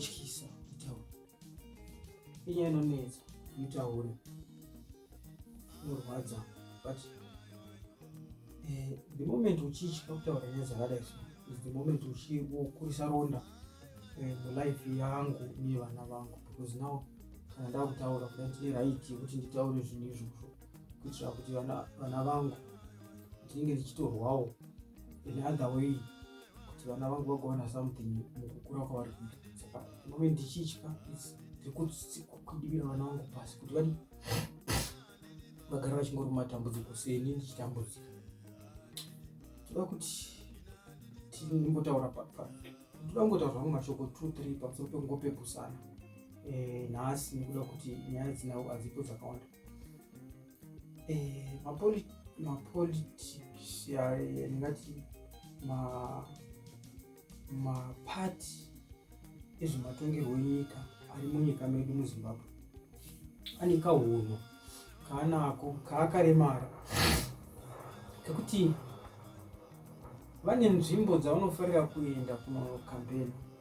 inotyisa kutaura inyaya inonetsa mitaure inorwadza but eh, the moment uchitya kutaura nyaya dzakadai so is the moment uchikurisa ronda eh, mulife yangu nevana vangu because now kana ndakutaura kuda ndine right yekuti nditaure zvinhu izvozvo kuitira kuti vana vangu ndinenge ndichitorwawo in other way kuti vana vangu vagowana something mukukura kwavari kuita saka ndinove ndichitya ndikudibira vana vangu pasi kuti vadi vagara vachingori matambudziko seni ndichitambudzika toda kuti tinimbotaura ndoda kungotaura zvangu mashoko two three pamusoro pekungopepusana eh, nhasi nekuda kuti nyaya dzinawo hadzipo dzakawanda eh, mapolitics ndingati mapati ezvematongerwo enyika ari munyika medu muzimbabwe ane kahunhu kaanako kaakaremara kekuti vane nzvimbo dzavanofarira kuenda kunokambeni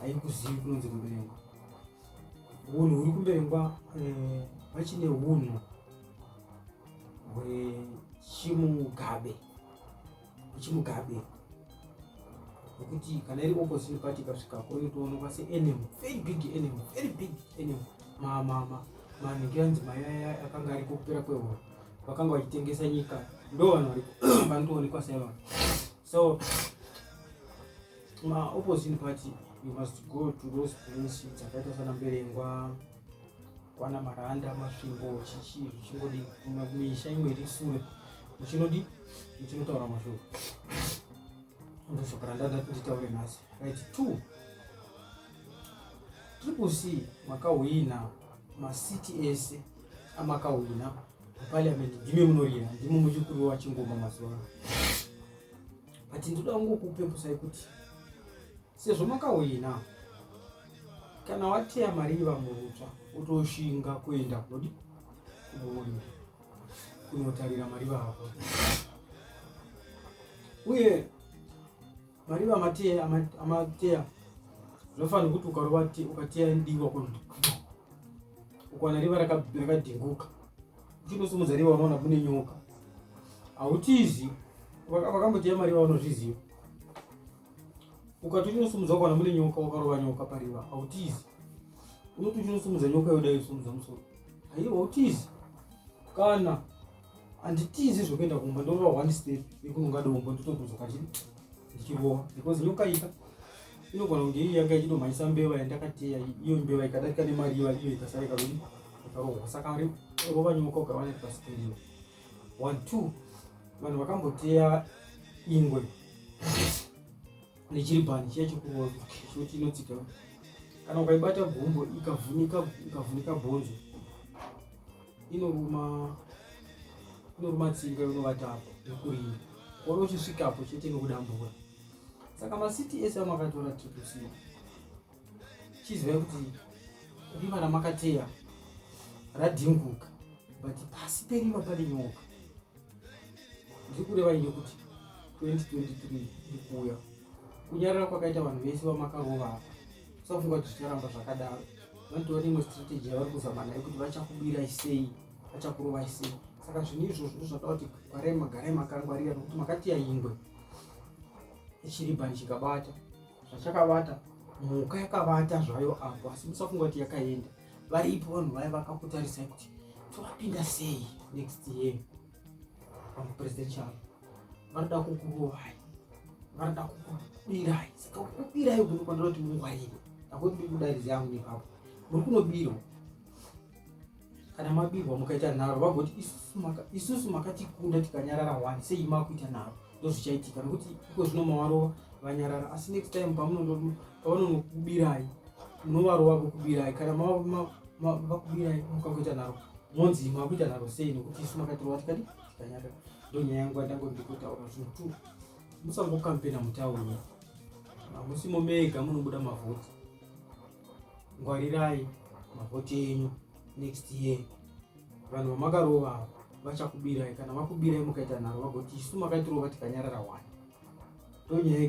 haikuzivi kunonzi kumberengwa unhu huri kumberengwa eh, vachine unhu hwechimugabe hwechimugabe nokuti kana iri opposite party ikasvika ko inotoonekwa seenem very big enem very big enem manhikiranzi mayaya akanga ari kokupera kwehoro vakanga vachitengesa nyika ndo vanhu vanotoonekwa saivanhu so ma opposing party you must go to those place dzakaita sana mberengwa kwana maranda masvingo chichii zvichingodi misha imwe iri sure uchinodi uchinotaura mashoko ndosaka randada kuti nditaure nhasi right two triple c makahwina masiti ese amakahwina parliament ndimi munorira ndimi muchikuru wachingoma mazuva ano but ndoda kungokupepusai kuti sezvo makahwina kana wateya mari yevamurutsva utoshinga kuenda kunodi kuboona kunotarira mari vako uye mari vamateya amateya zvofanira kuti ukarova ukateya ndiwa kuno ukwana riva rakadhinguka Uchingosimudza riva unoona kune nyoka. Hautizi vakambotiya mari vavanozviziva. Ukati uchinosimudza ukaona mune nyoka wakarova nyoka pariva hautizi. Unoti uchinosimudza nyoka yoda yosimudza musoro. Haiwa hautizi. Kana handitizi zvekuenda kumba ndorova one step yekunonga dombo ndotodzoka chii ndichirova because nyoka ika inogona kunge iri yanga ichidomhanyisa mbeva yandakateya iyo mbeva ikadarika nemari iva iyo ikasara ikadoni akarova saka ari rova nyoka ukawana iri pasi pemba one two vanhu vakamboteya ingwe nechiribhani chiya chekurova choti inotsika kana ukaibata gumbo ikavhunika ikavhunika bhonzo inoruma inoruma tsinga inovata apo yokurima kuona uchisvikapo chete inokudambura saka macts ano akatora triple c chizivai kuti rima ramakateya radhinguka but pasi perima pane nyoka ndiri kureva ini kuti 2023 ndikuuya kunyarara kwakaita vanhu vese vamakarova apa usafunga kuti zvicharamba zvakadaro vanotova neimwe strategy yavari kuzama nayo kuti vachakubirai sei vachakurovai sei saka zvinhu izvozvo ndozvada kuti gwarai magarai makangwarira nokuti makatiya ingwe ichiribhani chikabata zvachakavata mhuka yakavata zvayo apo asi musafunga kuti yakaenda varipo vanhu vaya vakakutarisai kuti tovapinda sei next year pamupresidential vanoda kukurovai vanoda kukubirai saka kukubirai kuri kwandiroti mungwarire akuti ndiri kudairidzi yangu nepapo muri kunobirwa kana mabirwa mukaita nharo vagoti isusu makatikunda tikanyarara wani sei makuita nharo ndozvichaitika nokuti iko zvino mavarova vanyarara asi next time pavanonokubirayi munovarova vokubirayi kana vakubirayi mukakuita nharo monzi makuita nharo sei nokuti isu makatirova tikadi tikanyarara ndonyaya yangu yandango ndikotaura zvinhu two musangokampena mutauni hamusimo mega munobuda mavhoti ngwarirai mavhoti enyu next year vanhu vamakarova vachakubirai kana vakubirai mukaita nharo vagoti isu makaitirova tikanyarara wani tonyaya